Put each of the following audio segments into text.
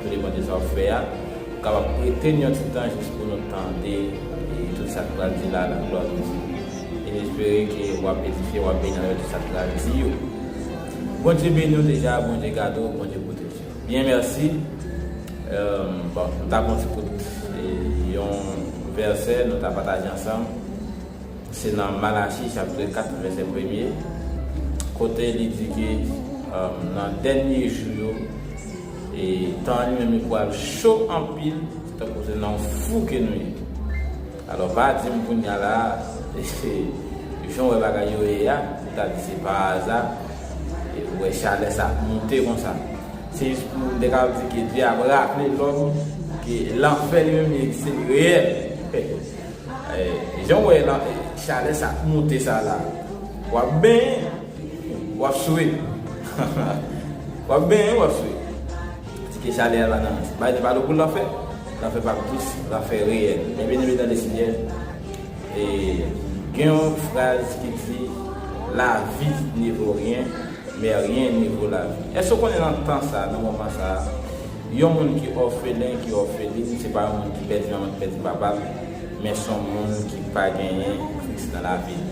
Tou depan de sa w ap fè a, ou kapab prete n yon ti tan jis pou nou tande tout sa k pral di la a nan glwa Jezi. E n espere ke w ap edifye, w ap beni avèk tout sa k pral di yo. Bondye beni w deja, Bondye gade w, Bondye pwoteje w. Byen mèsi. Bon, m ta pran yon ti kout yon vèsè nou ta pataje ansanm. Se nan Malachi chapitre 4 vèsè premye, kote li di ke nan dènye jou yo, E tan an li menm li pwal cho anpil tankou se nan yon fou ke nou ye. Alò pa di m kounya la a, se jan w wè bagay yo ye a, ou ta di se pa aza e ou wè chalè sa ap moute konsa. Se jis pou m te ka di ke Dye ap raple lòm ke lanfè li menm li egziste, li reyèl. Jan w wè chalè sa ap moute sa la a, w ap benyen. Wap swe. Wap benyen wap swe. Kite chalè a la nan bay ti balo pou lanfè. Lanfè pap dous, lanfè reyèl. Men byen eme tande Senyè. E gen yon fraz ki di lavi ne vo ryen, men ryen ne vo lavi. Èske w konnen nan tan sa, nan moman sa, yon moun ki òfelen, ki òfelin, se pa yon moun ki pèdi manman, ki pèdi papa l, men son moun ki pa genyen Kris nan lavi l.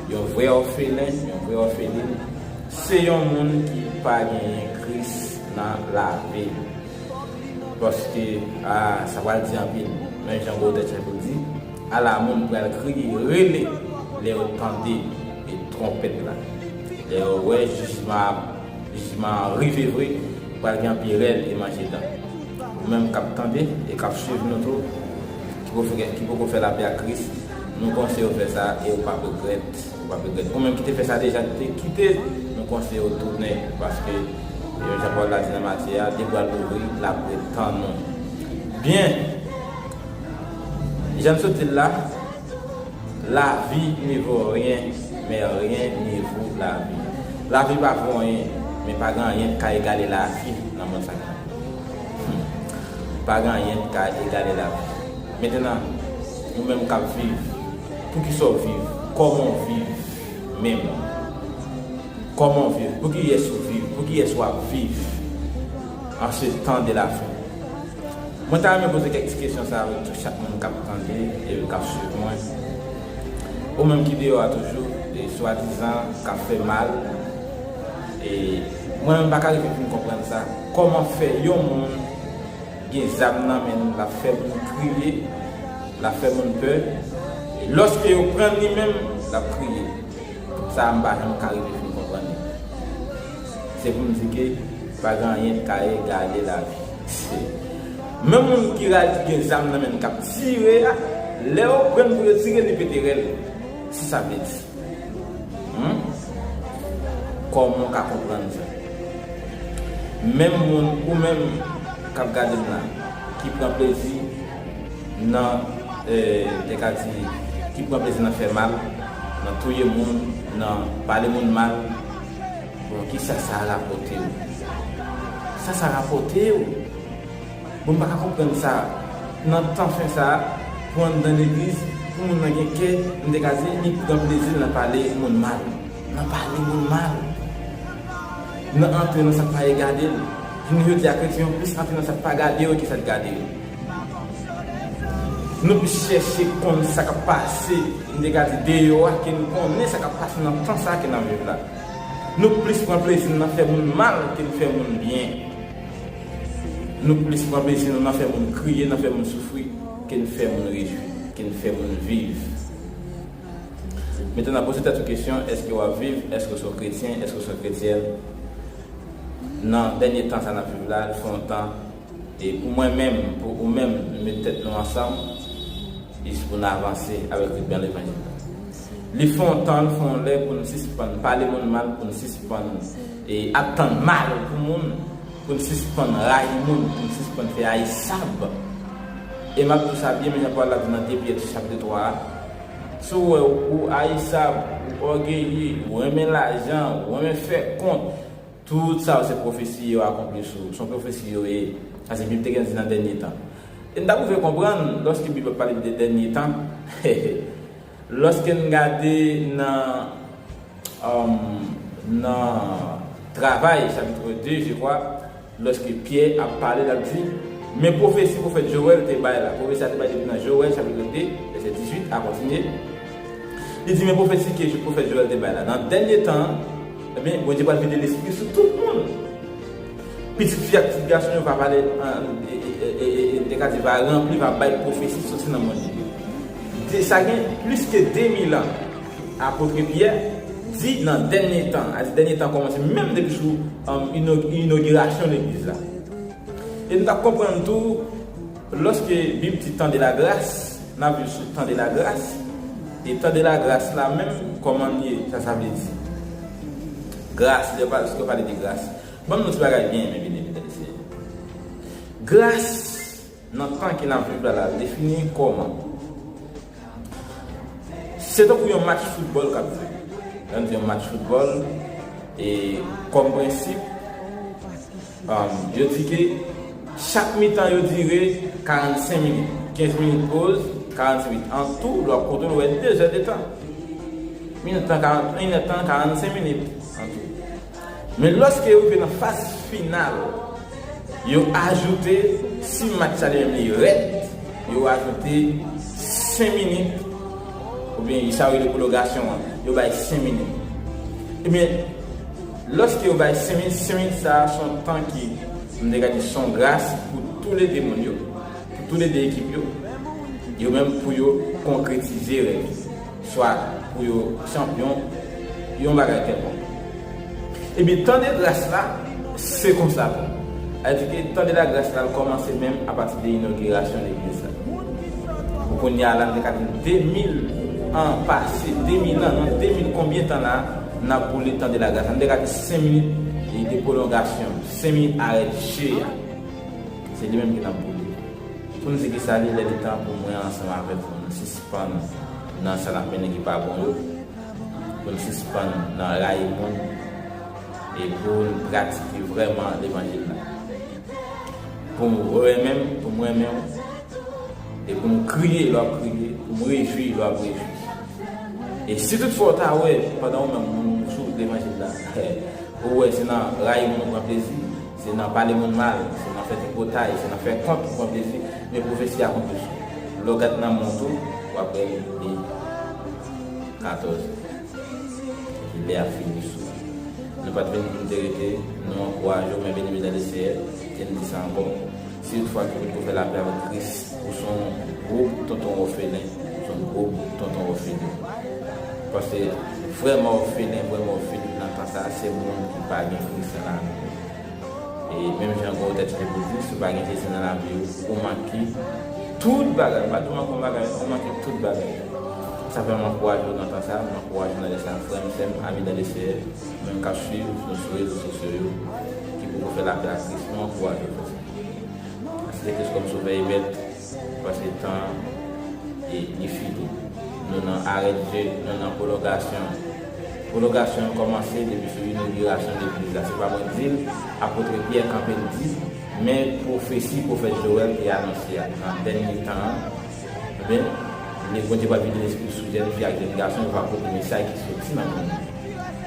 Yon vrè òfelen, yon vrè òfelin, se yon moun ki pa genyen Kris nan lavi li. Paske, a, sa pral di anpil. Men jan Baudelaire te konn di, Ala moun pral kriye, rele, lè yo tande bit twonpèt la. Lè yo wè jijman ap, jijman an rive vre, pral gen anpil rèl e manje dan. Ou menm k ap tande e k ap suiv nou tou, ki poko fè lapè ak Kris, Nou konseyew fè sa e ou pap regrèt ou pap regrèt ou menm ki te fè sa deja ki te kite nou konseyew tounen paske e jan pawòl la di nan Matye a li pral louvri lap ret tann nou byen janm sot dil la lavi ne vo ryen men ryen ne vo lavi lavi pa vo anyen men pa gen anyen ki ka egale lavi nan mond sa ki la la pa gen anyen ki ka egale lavi. Mentena ou menm kap viv poukisa ou viv koman ou viv menm koman ou viv pou kiyes ou viv pou kiyes wap viv an se tan de la fen mwen ta renmen poze kek ti kesyon sa avek tout chak moun kap tande e kap swiv mwen ou menm ki deyo a toujou e swa dizan kap fe mal e mwen menm paka rive fin konprann sa koman fe yon moun. gen zam nan men l lap fè moun kriye lap fè moun pè e loske yo pran l li menm lap kriye sa a m pa janm ka rive fin konprann li se pou m di ke pa gen anyen ki ka egale lavi se menm moun ki ra l ki gen zam nan men l kap tire a lè yo pran l pou yo tire li pete rèl se sa m vle di. Humm Koman w ka konprann sa? Menm moun ou menm kap gade m la ki pran plezi nan te ka di ki pran plezi nan fè mal, nan touye moun, nan pale moun mal bon kisa sa rapòte w? Kisa sa rapòte w? Bon m paka konprann sa nan tan fen sa pou anndan legliz pou moun nan gen kè m te ka di li pi gran plezi l nan pale moun mal nan pale moun mal nan antre nan sak pa ye gade l jounen jodi a kretyen yo plis antre nan sak pa gade yo ke sak gade yo nou plis chèche konn sa kap pase m te ka di deyò a ke nou konnen sa kap pase nan tan sa ke nap viv la nou plis pran plezi n nan fè moun mal ke n fè moun byen. Nou plis pran plezi nou nan fè moun kriye, nan fè moun soufri, ke n fè moun rejwi, ke n fè moun viv. Metenan poze tèt ou kesyon, èske w ap viv? Èske w se yon kretyen? Èske w se yon kretyèn? Nan dènye tan sa n ap viv la, li fè yon tan, e pou mwen menm, pou ou menm, nou met tèt nou ansanm, jis pou n avanse avèk riban levanjil la. Li fè yon tan, li fè yon lè pou n sispann pale moun mal, pou n sispann. E ap tann mare pou moun pou n sispann rayi moun, pou n sispann fè ayisab. E m ap di w sa byen men jan pawòl la di nan 2 Pyè ti chapitr 3 a, Si w wè ou ayisab, ou ògeye, ou renmen lajan, ou renmen fè kont, tout sa yo se pwofesi yo akonpli sou ou. Se yon pwofesi yo ye. Sa se Bib te gen di nan dènye tan. E n ta pou vle konprann, lòske Bib ap pale de dènye tan, he he. Loske n gade nan nan Travay chapitre 2 je kwa, loske Pyè ap pale l ap di, Men pwofesi pwofèt Jowèl te bay la. Pwofesi a te bay depi nan Jowèl chapitre 2 vèsè 18 a kontinye, li di men pwofesi ke pwofèt Jowèl te bay la, nan dènye tan an, enben, Bondye pral vide lespri l sou tout moun. Pitit fi ak pitit gason yo va pale an Ekati, va ranpli, va bay pwofesi soti nan mond li. De sa gen plis ke de mil an, Apotre Pyè di nan dènye tan, a di dènye tan kòmanse menm depi sou inogirasyon legliz la. E nou ta konprann tou, lòske Bib di tan de la gras, n ap viv sou tan de la gras, e tan de la gras la menm kòman li ye, sa sa vle di? Gras, lè yo pale de gras. Banm yon ti bagay byen enpe byen enpe tande seyè. Gras nan tan ke nap viv la la defini kòman? Se tankou yon match foutbòl kap jwe. Lè nou di yon match foutbòl e kòm prensip yo di ke chak mitan yo dire 45 minit. 15 minit poz, 45 minit. An tou lè wap konte ou wè 2 zè de tan. Minit tan 40, 1 è tan 45 minit an tou. Men lòske yo rive nan faz final, yo ajoute, si match la li menm li rèd, yo ajoute 5 minit, oubyen sa yo rele pwologasyon an, yo bay 5 minit. Ebyen, lòske yo bay 5 minit, 5 minit sa a se yon tan ki, m te ka di, se yon gras pou tou le 2 moun yo, pou tou le 2 ekip yo, yo menm pou yo konkretize rèv yo. Swa pou yo chanpyon yon bagay kèlkonk. Ebyen tan de gras la se konsa tou. Sa vle di ke tan de la gras la kòmanse menm apati de inogirasyon legliz la. Pou kounye a la nou te ka di 2000 an pase, 2000 an, nan 2000 konbyen tan la n ap boule tan de la gras la. Nou te ka di 5 minit de pwolongasyon, 5 minit arèt je a. Se li menm ke n ap boule. Pou nou di ki sa li lè li tan pou mwen ansanm avèk ou nou sispann. Spann nan sa nap mennen ki pa bon yo, pou n sispann nan rayi moun e pou n pratike vrèman levanjil la. Pou m renmen m, pou m renmen w, e pou m kriye lè w ap kriye, pou m rejwi lè w ap rejwi. E si tout fwa w ta wè pandan ou menm ou sou wout levanjil la, ou wè se nan rayi moun ou pran plezi, Se nan pale moun mal, se nan fè tripotay, se nan fè kont pou pran plezi men pwofesi a konte sou ou. Lè w gad nanm moun tou, w ap wè li vide. 14, Epi lè a fini sou ou. Nou pa t vini pou nou te rete, nou ankouraje w men beni medam e seyè, e nou di sa ankò. Si yon fwa ki pot ko fè lapè avèk Kris ou son gwo tonton òfelen ou son gwo tonton òfelin paske vrèman òfelen vrèman òfelin nan tan sa se moun ki pa gen Kris nan lavi yo e menm jan gwo tèt li pou di si ou pa gen Jezi nan lavi ou ou manke tout bagay m pa di ou manke yon bagay non ou manke tout bagay sa fè m ankouraje w nan tan sa m ankouraje w nan lè sa frè m sè m ami dan le Seyè. Moun kap swiv nou sou rezo sosyo yo ki poko fè lapè ak kris nou ankouraje yo fè sa. Asepte kris kòm sovè e mèt paske tan an li fini. Nou nan arè dye, nou nan pwolongasyon. Pwolongasyon an kòmanse depi sou inogirasyon legliz la. Se pa mwen dil, apotre Pyè kanpe l di, men pwofesi pwofèt Jowèl te anonse a. Nan dènye tan an, ebyen, le Bondye pral vide lespri l sou jèn fi ak jèn gason yo va pote mesay ki soti nan moun.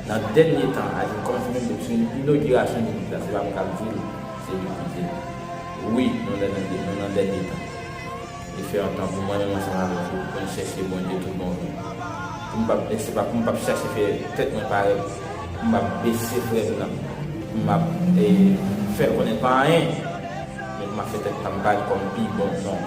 Nan dènye tan a yo konfime Neptune inogirasyon Legliz la se pa mwen kap dil se li ki dil wi nou nan dènye tan li fè yon tan pou mwen menm ansanm avèk ou poun chèche Bondye tout bon vre poum pa se pa poum pap chèche fè tèt mwen parèt poum ap bese frèm nan poum ap fèl konnen pa anyen men poum ap fè tèt pam parèt kòm pi bon non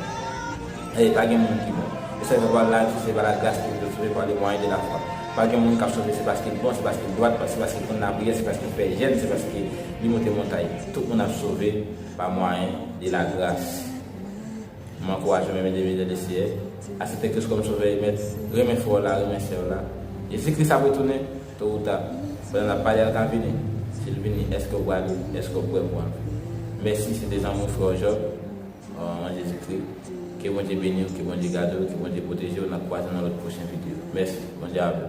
e pa gen moun ki bon e sa yo fè pwa lavi se pa la gras ke vous êtes sauvé par le moyen de la foi. Pa gen moun k ap sove se paske l bon, se paske l dwat, se paske l konn lapriyè, se paske l pè jèn, se paske li monte montay. Tout moun ap sove pa mwayen de lagras. M ankouraje w renmen Deven Jè Le Seyè, asepte Kris kòm Sovè e Mèt, renmen frè w la, renmen sè w la. Jezi Kris ap retounen, to ou ta. Pandan n ap pale a l ka vini. Si l vini, èske w prale? Èske w prè pou w antre? Mèsi, se te zanmi w frè w Job. Manman Jezikri ke Bondye beniw ke Bondye gadew ke Bondye pwotejew nap kwaze nan lòt pwochen video mèsi Bondye avèw.